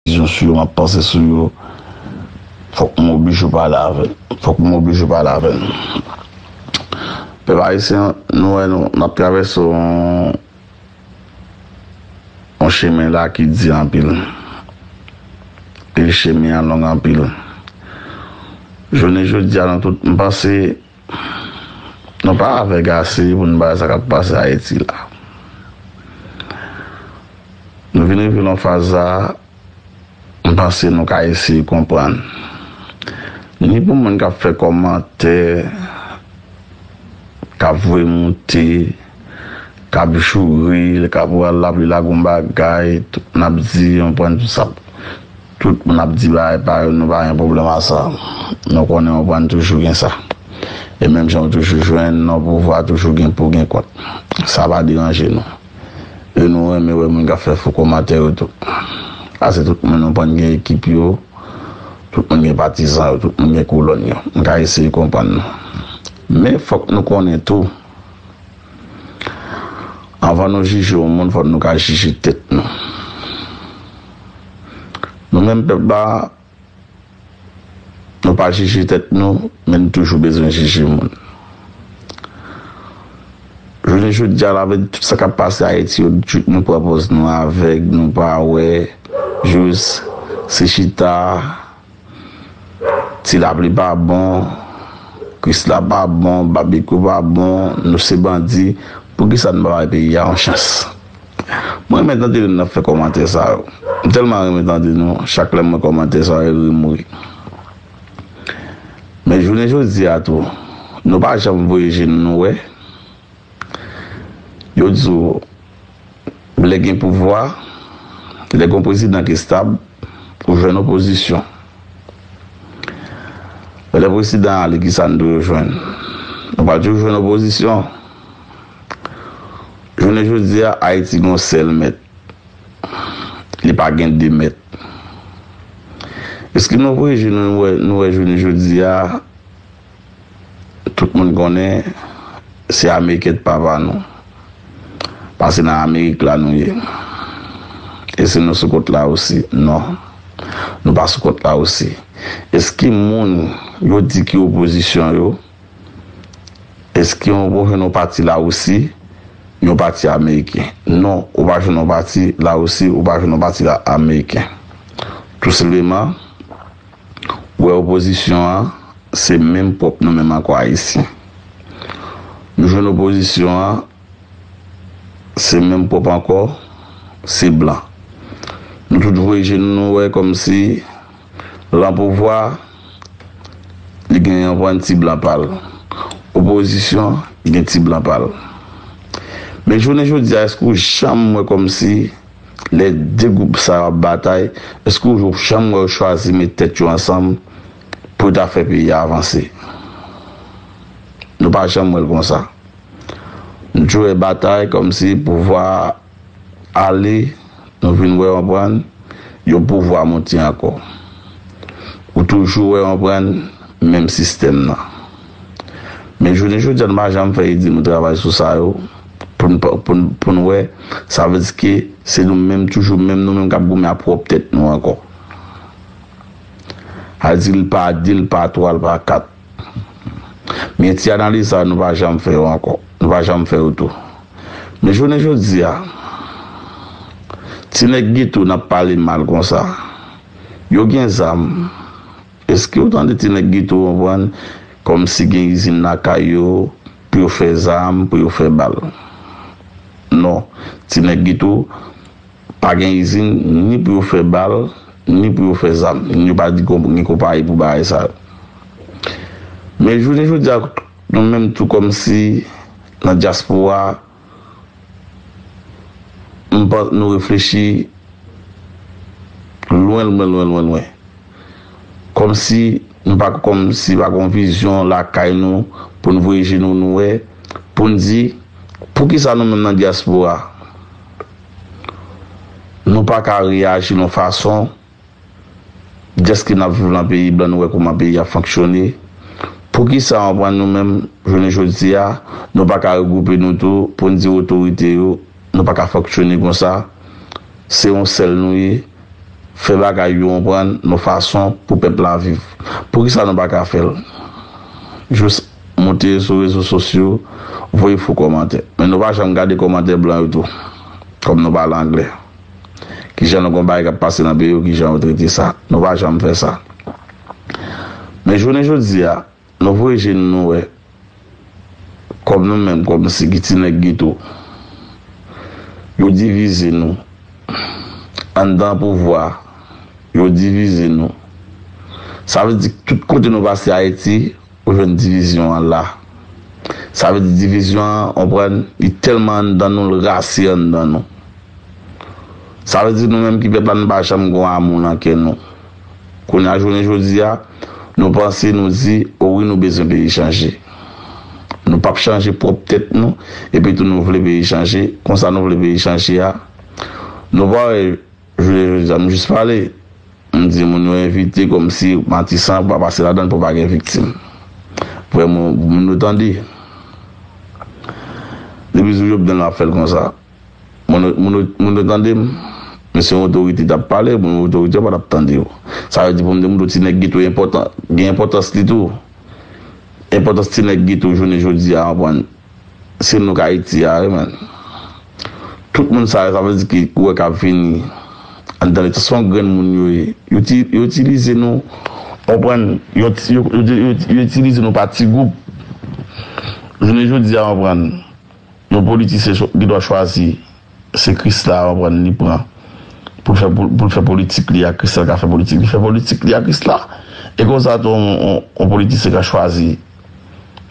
Yo sou yo map panse sou yo fok m oblije pale avèl fok m oblije pale avèl pèp ayisyen nou wè nou nap travèse yon yon chemen la ki di anpil e chemen an long anpil jounen jodia nan tout m panse Nou pa avèg ase pou n bay sa k ap pase Ayiti la. Nou vin rive nan yon faz la, m panse nou ka eseye konprann. Ni pou moun k ap fè kòmantè, k ap voye moute, k ap joure, k ap rale lapli lagon bagay, tout moun ap di, yon pwennvi sa. Tout moun ap di bagay pa yo nou pa gen pwoblèm a sa. Nou konnen ou pa n toujou gen sa. E menm jan ou toujou jwenn nan pouvwa toujou gen pou gen kont. Sa pa deranje nou. E nou renmen wè moun k ap fè fo komantè yo tou. Pase tout moun ou pa n gen ekip yo, tout moun gen patizan yo, tout moun gen kolòn yo. M ka eseye konprann nou. Men fòk nou konnen tou anvan nou jije yon moun fòk nou ka jije tèt nou. Nou menm pèp la, nou pa jije tèt nou, men nou toujou bezwen jije moun. Jounen jodi a la avèk tout sa k ap pase Ayiti yo, nou pran pòz nou avèg, nou pa wè, jis se chita. Ti lapli pa bon, krisla pa bon, babekyou pa bon, nou se bandi, poukisa nou pa bay peyi a yon chans? Mwen renmen tande lè nap fè kòmantè sa yo, m tèlman renmen tande nou, chak lèm wè kòmantè sa yo ri m ri. Men jounen jodi a tou, nou pa janm voye je nou nou wè, Yo di w, lè gen pouvwa, lè gen yon prezidan ki stab, ou jwenn opozisyon. Men lè prezidan an ale ki sa n di yo jwenn? Nou pa toujou jwenn opozisyon. Jounen jodi a, Ayiti gen yon sèl mèt. Li pa gen de mèt. Eske nou wè jounen jodi a? Tout moun konnen se ameriken t papa nou pase nan amerik la nou ye esi nou sou kot la rosi non nou pa sou kot la rosi eski moun yo di ki opozisyon yo eski ou bon jwenn yon pati la rosi yon pati ameriken non ou pa jwenn yon pati la rosi ou pa jwenn yon pati ameriken tou senpleman. Wè opozisyon an se menm pwòp nou menm anko ayisyen nou jwenn opozisyon an se menm pwòp anko se blan nou tout voye je nou nou wè komsi lan pouvwa li gen yon bann ti blan pal opozisyon gen ti blan pal men jounen jodia eske ou janm wè komsi Lè 2 gwoup sa yo ap batay, èske ou janm wè yo chwazi met tèt yo ansanm pou yo ta fè peyi a avanse? Nou pa janm wè l konsa. Nou toujou wè batay kòmsi pouvwa a ale, nou vin wè, konprann, yon pouvwa moute ankò. Ou toujou wè, konprann, menm sistèm nan. Men jounen jodi a nou pa janm fè ede nou travay sou sa yo pou n wè sa vle di ke se nou menm toujou menm nou menm k ap goumen ak pwòp tèt nou ankò. Al di l pa de l pa twa l pa kat. Men ti analiz sa yo nou pa janm fè yo ankò. Nou pa janm fè yo tou. Men jounen jodi a ti nèg geto n ap pale mal konsa yo gen zam. Eskew tande ti nèg geto konprann kòmsi gen izin lakay yo pou yo fè zam pou yo fè bal non ti nèg geto pa gen izin ni pou yo fè bal ni pou yo fè zam yo pa di gen konpayi pou bagay sa yo men jounen jodi a nou menm tou kòmsi nan dyaspora. M panc nou reflechi lwen lwen lwen lwen lwen. Kòmsi nou pa kòmsi pa gon vizyon lakay nou pou n voye je nou nou wè, pou n di, poukisa nou menm nan dyaspora nou pa ka reyaji yon fason. Deske nap viv lan peyi blan nou wè kouman peyi a fonksyone poukisa yon pwen nou menm jounen jodi a nou paka regwoupe nou tou poun di otorite yo nou paka fonksyone konsa se yon sèl nou ye fè bagay yo yon pwen nou fason pou pèp la viv poukisa nou paka fèl jous moute sou rezo sosyo voye fo kòmantè men nou pa janm gade kòmantè blan yo tou kòm nou pale anglè. Kijan nou gon bagay kap pase nan peyi yo kijan yo trete sa. Nou pa janm fè sa. Men jounen jodi a, nou voye je nou nou wè kòm nou menm kòm si ki ti nèg geto. Yo divize nou. Anndan pouvwa a, yo divize nou. Sa vle di tout kote nou pase Ayiti. Ou jwenn divizyon an la. Sa vle di divizyon an, konprann, li tèlman anndan nou, l rase anndan nou. Sa vle di nou menm ki pèp la nou pa janm gon amou nan kè nou. Kounye a jounen jodi a, nou panse, nou di, o wi nou bezwen peyi chanje. Nou pap chanje pwòp tèt nou, epi tou nou vle peyi chanje, konsa nou vle peyi chanje a. Nou pa wè, jounen jodi a, m jis pale. M di moun yo evite komsi matisan ap pase ladann pou pa gen viktim. Vrè mo pou moun yo tande. Depi sou Jovenel map fèl konsa. Moun yo tande m? Men si yon otorite tap pale, moun yo otorite yo patap tande yo. Sa yo di pou m di moun yo ti nèg geto enpòtan, gen enpòtans li tou. Enpòtans ti nèg geto jounen jodi a anpwen. Se nou k Ayiti a wi menn. Tout moun sa yo sa vle di ki wè k ap vini anndan leta se yon grenn moun yo ye. Yo ti yo itilize nou ou konprann yon ti yo yo itilize nou pa ti gwoup. Jounen jodi a ou konprann yon politisyen cho gen dwa chwazi se krisla ou konprann li pran pou l fè pou pou l fè politik li a krisla ka fè politik li fè politik li a krisla e konsa tou yon yon yon politisyen ka chwazi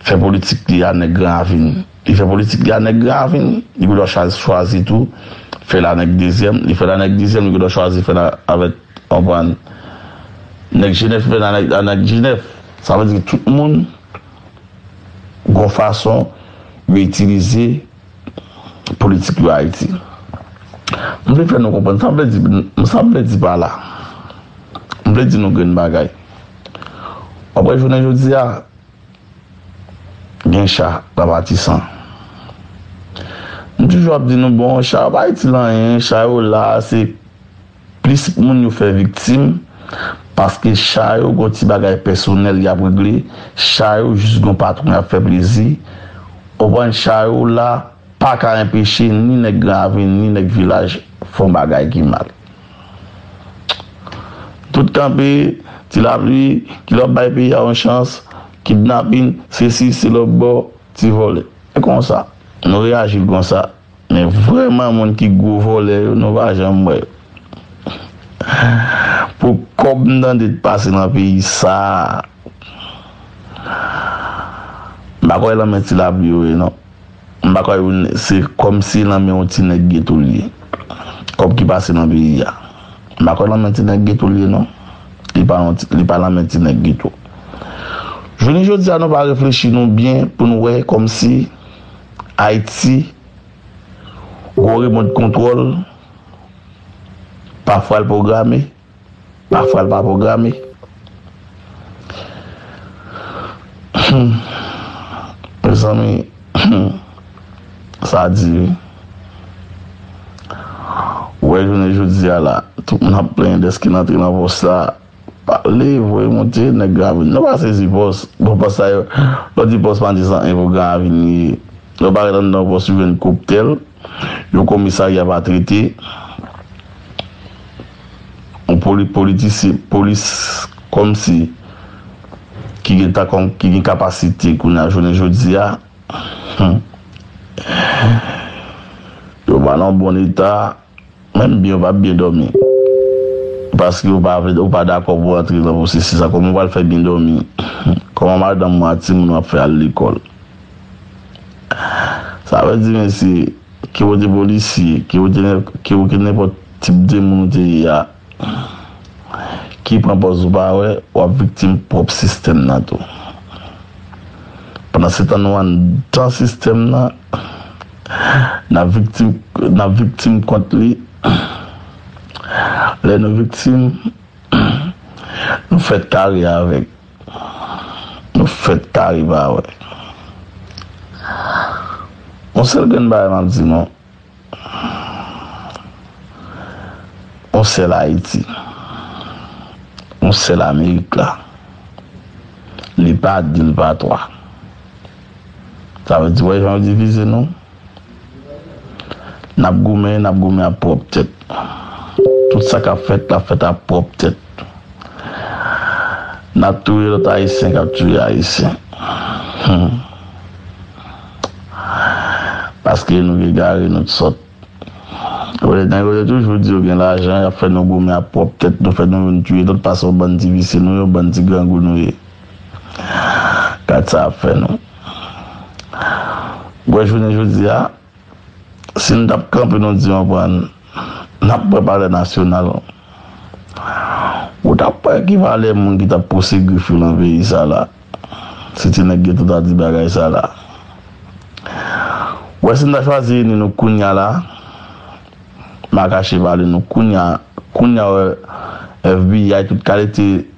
fè politik li a nèg gran avin li fè politik li a nèg gran avin li gen dwa chwazi tou fè l a nèg dezyèm li fè l a nèg dezyèm li gen dwa chwazi fè l a avèk konprann nèg jenèf li fè l a nèg a nèg jenèf sa vle di tout moun gon fason yo itilize politik yo Ayiti. M vle fè nou konprann sa m vle di, sa m vle di pa la, m vle di nou grenn bagay. Wap wè jounen jodi a, gen cha nan Matisan. M toujou ap di nou bon, cha yo pa itil anyen, cha yo la se. Plis moun yo fè viktim, paske cha yo gon ti bagay pèsonèl y ap regle, cha yo jis gon patwon y ap fè plezi, konprann cha yo la pa ka enpeche ni nèg gran ravin ni nèg vilaj fon bagay ki mal. Tout kanpe, ti lapli, ki lè w ap bay peyi a yon chans, kidnapin, sesi, se lòbò, ti vòlè. E konsa, nou reyaji l konsa. Men vrèman moun ki gwo vòlè yo nou pa janm wè yo pou kòb m tande t pase nan peyi sa m pa kwè lan men ti lapli yo ye non m pa kwè yo se kòmsi lan men yon ti nèg geto l ye kòb ki pase nan peyi a m pa kwè lan men ti nèg geto l ye non li pa yon li pa lan men ti nèg geto jounen jodi a nou pa reflechi nou byen pou nou wè kòmsi Ayiti, Gwo remont kontwòl, pafwa l pwograme, pafwa l pa pwograme. Humm mezanmi humm sa di wi. Ou wè jounen jodi a la, tout moun ap plenyen dèske n antre nan pòs sa a. Pale voye monte nèg la vini. Nou pa sezi pòs bon pòs sa yo lè w di pòs pa di san enpo gran avin li ye lè w parèt anndan yon pòs ou jwenn koptèl yon komisarya pa trete w poli politisye polis kòmsi ki gen tan kòm ki gen kapasite kounye a jounen jodi a humm yo pa nan bon eta. Menm byen ou pap byen dòmi paske ou pa vle ou pa dakò pou antre nan pwosesis la kòman ou pral fè byen dòmi kòman madanm ou ak timoun ou ap fè al lekòl sa vle di mesye ke ou te polisye ke ou te ke ou te nenpòt tip de moun ou te ye a ki pran pòz ou pa wè wap viktim pwòp sistèm nan tou pandan se tan nou anndan sistèm nan. N ap viktim kont li. Lè nou viktim, nou fèt kare avèk. Nou fèt kare pa wè. Yon sèl grenn bagay m ap di nou, yon sèl Ayiti, yon sèl Amerik la. Li pa 2, li pa 3. Sa vle di wè jan yo divize nou? Nap goumen, nap goumen ap pwòp tèt. Tout sa kap fèt lap fèt ap pwòp tèt. Nap touye lòt ayisyen kap touye ayisyen. Humm. Paske nou egare, nou t sòt. Wè nèg yo te toujou di yo gen lajan, yap fè nou goumen ap pwòp tèt nou, fè nou youn touye lòt pase yon bann ti visye nou yo, bann ti grangou nou ye. Gad sa ap fè nou. Wè jounen jodi a, si nou t ap kanpe nou di yon vwa n ap pran palè nasyonal, ou t ap wè ki valè moun ki t ap pouse grif yo nan peyi sa la. Si ti nèg geto ta di bagay sa la. Wè si n ta chwazi ini nou kounya la, m a kache pa li nou kounya, kounya wè FBI tout kalite.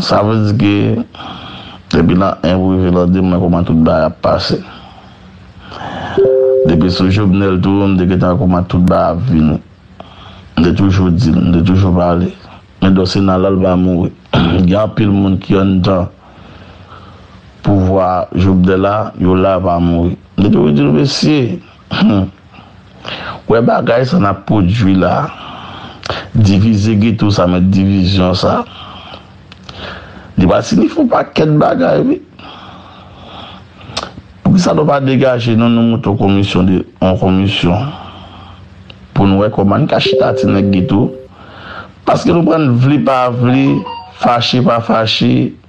Sa vle di ke depi nan 1 pou rive lan 2 m nan kouman tout bagay ap pase. Depi sou Jovenel tou m te gentan wè kouman tout bagay ap vini. M te toujou di l, m te toujou pale. Men dlo sena la l va mouri. Gen anpil moun ki anndan pouvwa Jovenel la, yo la yo pa mouri. M te toujou di l mesye. Humm wè bagay sa nap pwodwi la divize geto sa met divizyon sa li pa sinifye yon pakèt bagay wi poukisa nou pa degaje nou nou moute yon komisyon de yon komisyon poun wè kòman nou ka chita ti nèg geto paske nou prann vle pa vle fache pa fache.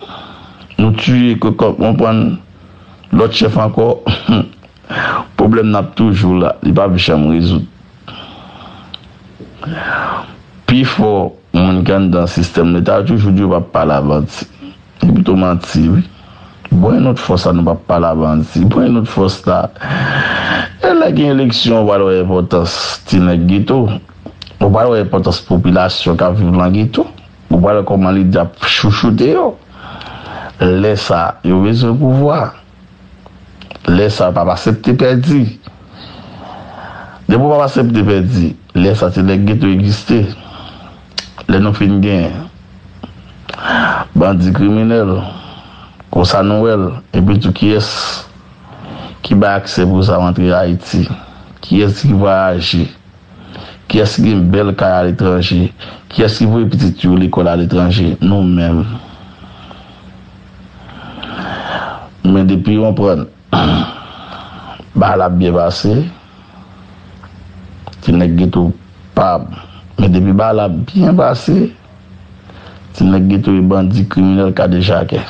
Ahh nou tuye kokot mwen pran lot chef anko humm problem nan ap toujou la li pap janm rezoud pi fo moun ki anndan sistem leta yo toujou di yo pap pale avanti li pito manti wi bon e not fos la nou pap pale avanti bon e not fos la e lè gen eleksyon ou pral wè enpotans ti neg geto ou pral wè enpotans popilasyon kap viv lan geto. Ou pa wè kòman li tap chouchoute yo? Lè sa yo bezwen pouvwa. Lè sa yo pap asepte pèdi. Depi ou pap asepte pèdi, lè sa ti nèg geto egziste. Lè nou fin gen bandi kriminèl, konsa nou wè l. Epi tou kiyès ki bay aksè pou sa rantre Ayiti? Kiyès ki vwayaje? Kiyès ki gen bèl kay aletranje? Kiyès ki voye pitit yo lekòl aletranje? Nou menm. Men depi yon pran bagay la ap byen pase. Ti nèg geto pa men depi bagay la byen pase. Ti nèg geto yo bandi, kriminèl, kadejakè.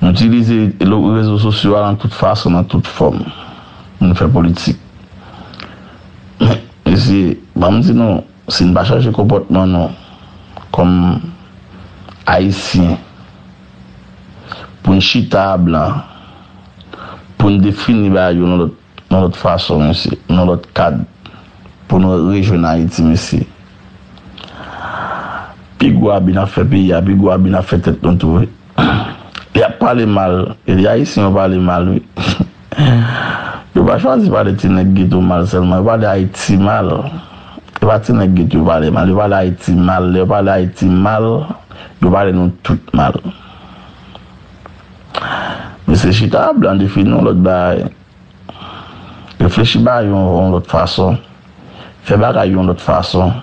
Nou itilize rezo sosyo a nan tout fason, nan tout fòm pou nou fè politik. Men, mesye, ban m di nou, si n pa chanje konpòtman nou kòm Ayisyen pou n chita a blan, pou n defini ba yo yon lòt. Yon lòt fason mesye, yon lòt kad pou nou rejwenn Ayiti mesye. Pi gwo abi nap fè peyi a, pi gwo abi nap fè tèt nou tou wi. Yap pale mal, e li Ayisyen yo pale mal wi. Yo pa chwazi pale ti nèg geto mal sèlman, yo pale Ayiti mal. E pa ti nèg geto yo pale mal, yo pale Ayiti mal. Lè yo pale Ayiti mal, yo pale nou tout mal. Mesye chita a blan defini yon lòt bagay. Reflechi bagay yo yon lòt fason. Fè bagay yon lòt fason.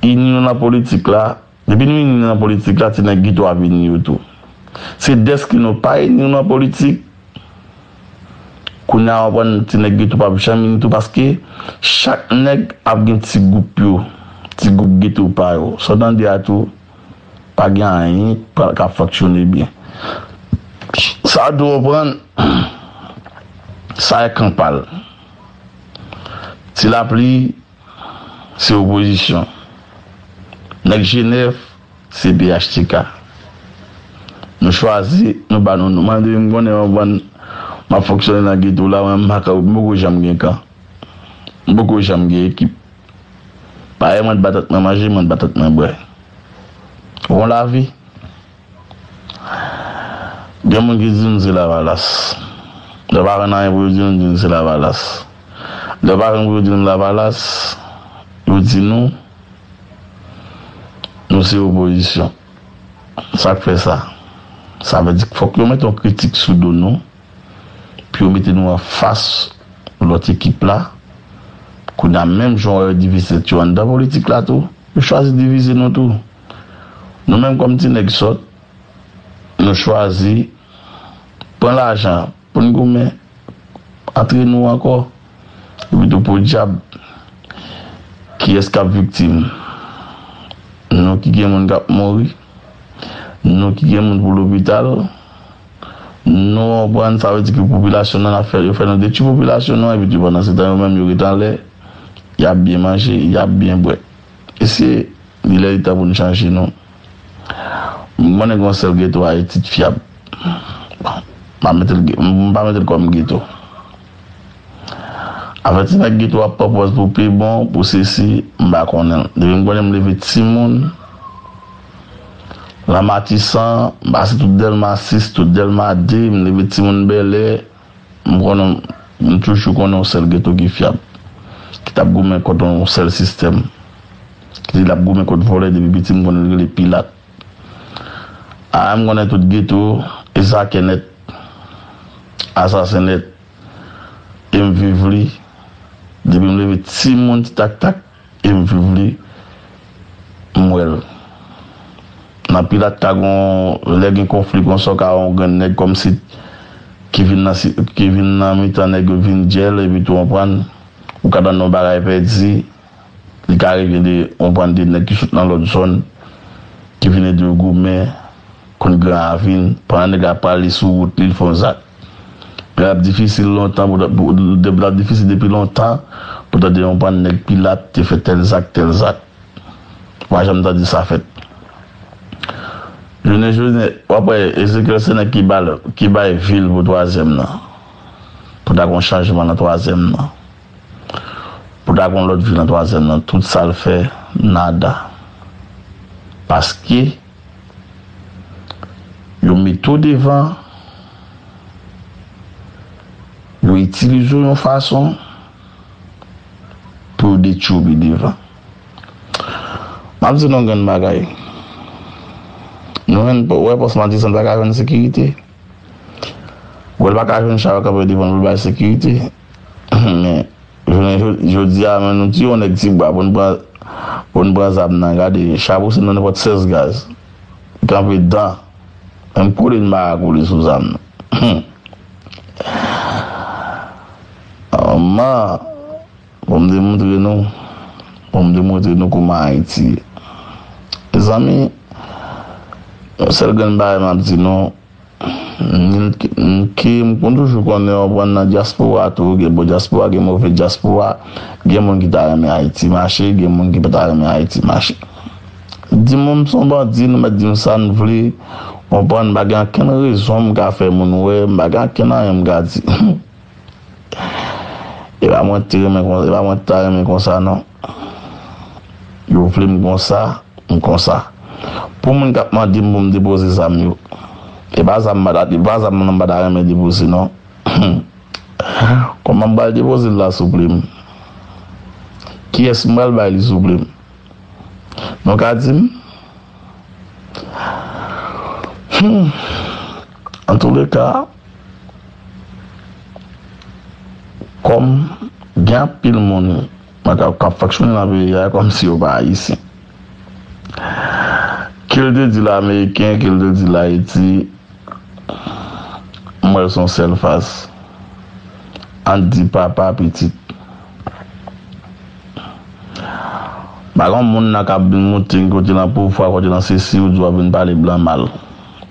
Ini nou nan politik la. Depi nou ini nan politik la, ti nèg geto ap ini yo tou. Se dèske nou pa ini nou nan politik, kounye a wap wè ti nèg geto pap janm ini tou paske chak nèg ap gen ti gwoup yo, ti gwoup geto pa yo. Sa w tande a tou? Pa gen anyen k ap fonksyone byen. Sa w dwe konprann, sa e kan pa l. Ti Lapli se opozisyon. Nèg Jenèf se phtk. Nou chwazi, nou ba nou non. Mwen depi m konnen yon bann m ap fonksyone nan geto la, mwen m pa ka, m poko janm gen kan. M poko janm gen ekip. Pare mwen batant mwen manje mwen batant mwen bwè Bon lavi Gen moun ki di nou se lavalas Lè yo pa konn anyen pou yo di nou di nou se lavalas Lè yo pa konn pou yo di nou lavalas Yo di nou Nou se opozisyon Sak fè sa Sa vle di fòk yo met yon kritik sou do nou. pou yo mete nou anfas lòt ekip la. Kounye a, menm jan wè yo divize tèt yo anndan politik la tou, yo chwazi divize nou tou. Nou menm kòm ti nèg sòt, nou chwazi pran lajan pou n goumen antre nou ankò. Epitou podyab, kiyès k ap viktim? Nou ki gen moun k ap mouri, nou ki gen moun pou lopital. Nou anprann sa vle di ke popilasyon nan ap fè, yo fè nan detwi popilasyon nou an epi ke pandan se tan yo menm yo ret anlè, y ap byen manje, y ap byen bwè. Mesye, li lè li tan pou nou chanje nou. M konnen gen yon sèl geto Ayiti t fyab. Bon, m pa mete l, m pa mete l kòm geto. Afè ti nèg geto ap pran pòz pou pi bon, pou sesi, m pa konnen l. Depi m konnen m leve timoun lan Matisan, m pase tout Dèlma 6, tout Dèlma 2, m leve timoun Bèlè, m konnen, m toujou konnen yon sèl geto ki fyab, ki t ap goumen kont yon sèl sistèm, ki di l ap goumen kont vòlè depi piti m konnen l rele Pilat. Aa m konnen tout geto e sakè nèt asasen nèt e m viv li depi m leve timoun ti tak tak e m viv li m wè l nan pil atka gon lè gen konfli konsa w ka wè yon grenn nèg kòmsi ki vin nan ki vin nan mitan nèg yo vin djèl epitou w konprann ou ka tande yon bagay pèdi Li ka rive de yon bann de nèg ki sot nan lòt zòn, ki vin ede yo goumen, konn Gran Ravin. Pandan nèg la ap prale sou wout li, li fè yon zak. Li pa t ap difisil lontan pou ta, li pa t ap difisil depi lontan pou tande yon bann nèg Pilat te fè tèl zak, tèl zak. Ou pa janm tande sa fèt. Jounen jodi, w ap wè Ezekyèl se nèg ki bay vil pou twazyèm nan, pou ta gen yon chanjman nan twazyèm nan. Pou ta gon lòt vi nan twazyèm nan tout sal fè nada paske yo mete w devan yo itilize w yon fason pou yo detwi w pi devan map di nou yon grenn bagay nou jwenn wè pòs madisan paka jwenn sekirite. Bon li pa ka jwenn chal kanpe devan pou l bay sekirite. Men, jounen jodi a nou tiye yon nèg ti bwa pou n pran pou n pran zam nan. Gade, cha pou se nou nenpòt 16 gaz. Kanpe dan. Menm kole n ba a kole sou zam nan. Humm. Aman. Bon m demontre nou Bon m demontre nou kouman Ayiti ye Mezanmi Yon sèl grenn bagay m ap di nou Mnke m konn toujou konnen w konprann nan dyaspora tou gen bon dyaspora gen move dyaspora Gen moun ki ta renmen Ayiti mache gen moun ki pa ta renmen Ayiti mache Di mwen m s on bandi nou mèt di m sa n vle w konprann m pa gen ankenn rezon m ka fè moun wè m pa gen ankenn anyen m ka di Epa mwen te renmen konsa, epa mwen ta renmen konsa non. Yo vle m konsa, m konsa. Pou moun kap mande m pou m depoze zam yo, epa zam m epa zam nan m pa ta renmen depoze non. Kòman m pral depoze l la souple m? Kiyès m pral bay li souple m? Nou ka di m? Humm. Antouleka. Kòm gen anpil moun k ap fonksyone nan peyi a kòm si yo pa Ayisyen. Ke l te dil Ameriken, ke l te dil Ayiti, m wè l s on sèl fas. An n di papa, pitit. Pa gen yon moun nan k ap vin moute n kote nan pouvwa, kote nan sesi, ou di w ap vin pale blan mal.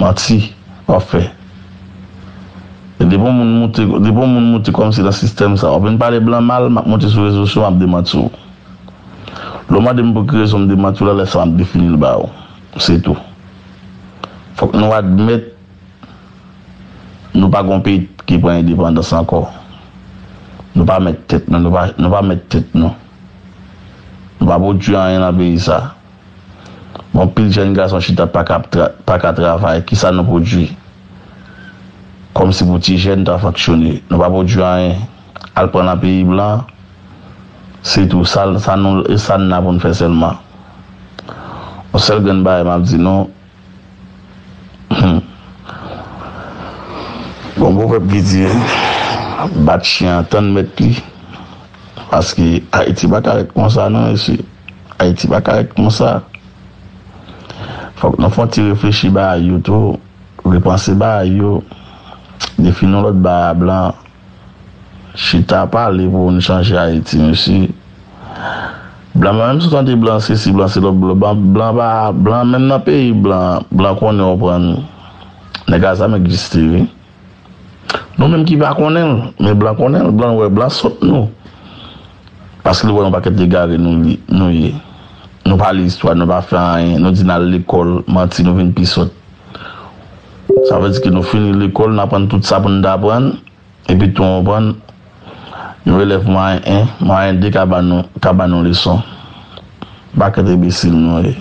Manti wap fè. Depi yon moun moute depi yon moun moute kòmsi nan sistèm sa wap vin pale blan mal map moute sou rezo syo map demanti w. Lè w mande m pou ki rezon m demanti w la lè sa map defini l ba w. Se tou. Fòk nou admèt nou pa gon peyi ki pran endepandans ankò. Nou pa mèt tèt nou nou pa mèt tèt nou. Nou pa pwodui anyen nan peyi sa. Anpil jèn gason chita pa ka travay, ki sa nou pwodui? Kòm si pou ti jèn ta fanksyone, nou pa pwodui anyen, al pran nan peyi blan, se tou, sa nou, e sa n la pou n fè sèlman? On sèl grenn bagay m ap di nou. Bon pwovèb ki di, bat chyen an tann mèt li, paske Ayiti pa ka rèt konsa non mesye, Ayiti pa ka rèt konsa. Fòk nou fè yon ti reflechi bagay yo tou, repanse bagay yo, defi nou lòt bagay a blan. Chita pale pou n chanje ayiti mesye blan blan menm si w tande blan se si blan se lo blan pa blan menm nan peyi blan blan konnen w pran nèg a zam egziste wi nou menm ki pa konnen l men blan konnen l blan wè blan sòt nou paske li wè yon pakèt egare nou ye nou pale istwa nou pa fè anyen nou di n al lekòl manti nou vin pi sòt. Sa vle di ke nou fini lekòl, nou aprann tout sa pou nou ta aprann, epi tou ou konprann, yon elèv mwayen 1, mwayen 2 ka ba nou, ka ba nou leson. Yon pakèt enbesil nou ye.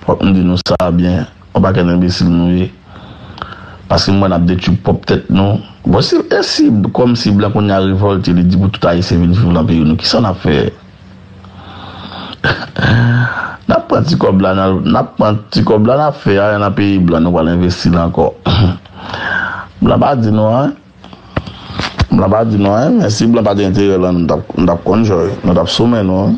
Fòk m di nou sa byen, yon pakèt enbesil nou ye. Paske m wè n ap detwi pwòp tèt nou. Bon si, e si, kòm si blan kounye a revòlte, li di pou tout ayisyen vin viv lan peyi nou, kisa n ap fè? Nap pran ti kòb la nal nap pran ti kòb la nap fè ayen nan peyi blan nou pral envestil ankò blan pa di nou anyen blan pa di nou anyen men si blan pat enterè lan nou tap nou tap konn jòy nou tap sou men nou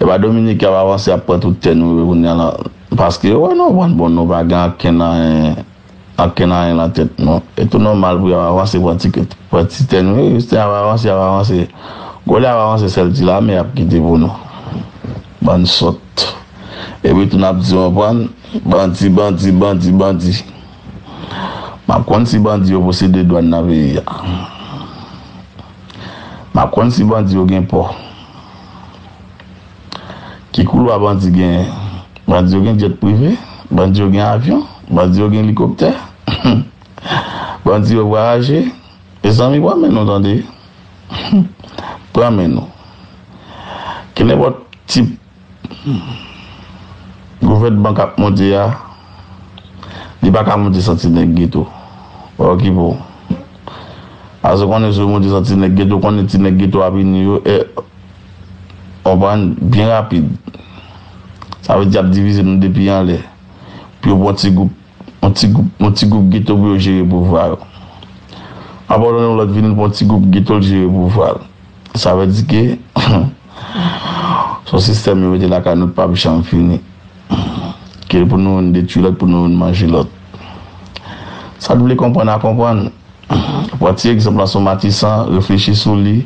epa dominiken ap avanse ap pran tout tè nou yo kounya lan paske yo wè nou pran bon nou pa gen ankenn anyen. Ak kenaryen nan tèt nou e tou nòmal pou y ap avanse pran ti kèt, pran ti tè nou. Jistin ap avanse, y ap avanse. Gòlè ap avanse sèl ti lame y ap kite pou nou. Bann sòt. Epi tou n ap di konprann, bandi, bandi, bandi, bandi. M ap konn si bandi yo posede dwàn nan peyi a. M ap konn si bandi yo gen pò. Ki koulwa bandi genyen? Bandi yo gen jet prive? Bandi yo gen avyon? Bandi yo gen elikoptè? Bandi yo vwayaje? Mezanmi pran men nou tande! Pran men nou! Ke nenpòt tip gouvènman k ap monte a, li pa ka monte santi nèg geto. Wè ki bon! Pase konnen si yo monte santi nèg geto, konnen ti nèg geto ap ini yo. Konprann byen rapid. Sa vle di y ap divize nou depi anlè pou yo pran ti gwoup, yon ti gwoup, yon ti gwoup geto pou yo jere pouvwa yo. Apatone yon lòt vini l pran ti gwoup geto l jere pouvwa l. Sa vle di ke se yon sistèm yo mete lakay nou k pap janm fini. Ke pou nou youn detwi lòt pou nou youn manje lòt. Sa k vle konprann a konprann. Pran ti egzanp lan sou Matisan, reflechi sou li,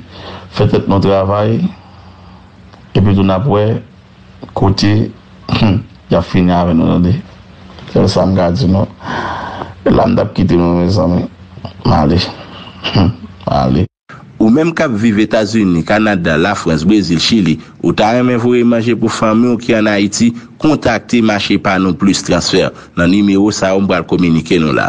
fè tèt nou travay, epi tou n ap wè kote y ap fini avè nou tande. Sèl sa m ka di nou. E la m t ap kite nou mezanmi. M ale. M ale. Ou menm k ap viv Etazini, Kanada, Lafrans, Brezil, Chili, ou ta renmen voye manje pou fanmi w ki an Ayiti, kontakte Machepanou Plus Transfert nan nimewo sa yo m pral kominike nou la.